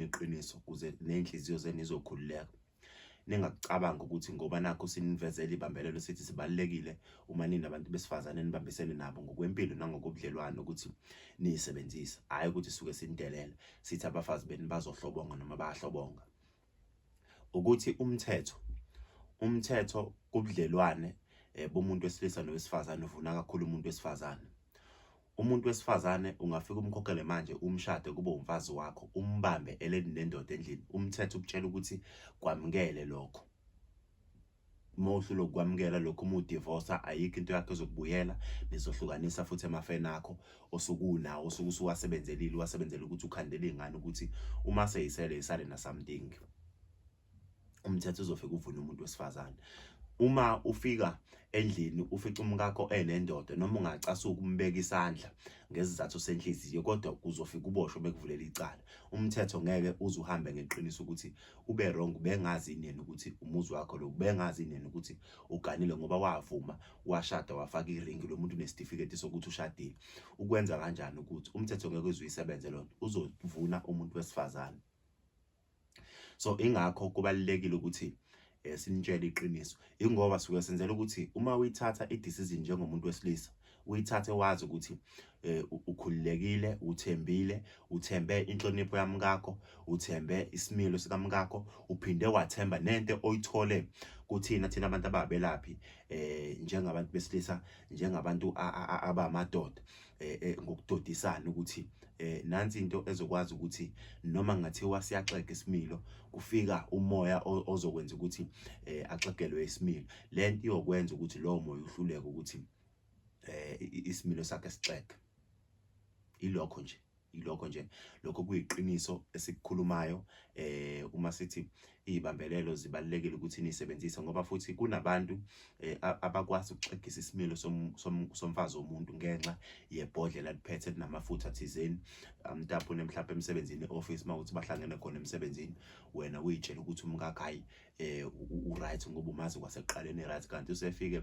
ngeqiniso ukuze ney'nhliziyo zenu izokhululeka ningakucabanga ukuthi ngoba nakho sinivezela ibambelelo sithi sibalulekile uma nini abantu besifazane nibambisene nabo ngokwempilo nangokobudlelwano ukuthi niyisebenzise hhayi ukuthi suke sinidelela sithi abafazi benu bazohlobonga noma bayahlobonga ukuthi umthetho umthetho kubudlelwane um bomuntu wesilisa nowesifazane uvuna kakhulu umuntu wesifazane Umuntu wesifazane ungafika umkhokhele manje umshade kube umfazi wakho umbambe eleni nendoda endlini umthetho ukutshela ukuthi kwamukele lokho uma uhlula ukwamukela lokho uma udivorsa ayikho into yakho ezokubuyela nizohlukanisa futhi emafeni akho osukunawo osuke usuwasebenzelile wasebenzela ukuthi ukhandele ingane ukuthi uma seyisele isale nasamdingi umthetho uzofika uvune umuntu wesifazane uma ufika endlini ufica umkakho enendoda noma ungacasuka ukumbeka isandla ngezizathu senhliziyo kodwa kuzofika uboshwe bekuvulela icala umthetho ngeke uzuhambe ngeqiniso ukuthi ube wrong bengazi nini ukuthi umuzi wakho lo bengazi nini ukuthi uganile ngoba wavuma washada wafaka iringi lo muntu unesitifiketi sokuthi ushadile ukwenza kanjani ukuthi umthetho ngeke uzuyisebenze lonto uzovuna umuntu wesifazane so ingakho kubalulekile ukuthi eh, sinitshele iqiniso ingoba suke senzela ukuthi uma uyithatha i-decision njengomuntu wesilisa uyithathe wazi ukuthi eh, ukhululekile uthembile uthembe inhlonipho yamkakho uthembe isimilo sikamkakho uphinde wathemba nento oyithole kuthina thina abantu ababelaphi eh njengabantu besilisa njengabantu abamadoda eh, eh, ngokudodisana ukuthi eh, nansi into ezokwazi ukuthi noma ngathiwa siyaxega isimilo kufika umoya ozokwenza ukuthi eh, axegelwe isimilo lento iyokwenza ukuthi lowo moya uhluleke ukuthi eh, isimilo sakhe sixege ilokho nje Yilokho nje lokho kuyiqiniso esikukhulumayo eh uma sithi izibambelelo zibalekile ukuthi nisebenzise ngoba futhi kunabantu eh, abakwazi ukuxegisa isimilo somfazi womuntu ngenxa yebhodlela liphethe linamafutha thizeni amtapune mhlawumbe emsebenzini office mawuthi bahlangene khona emsebenzini wena uyitshela ukuthi umkakhayi eh u right ngoba umazi kwaseqaleni right kanti usefike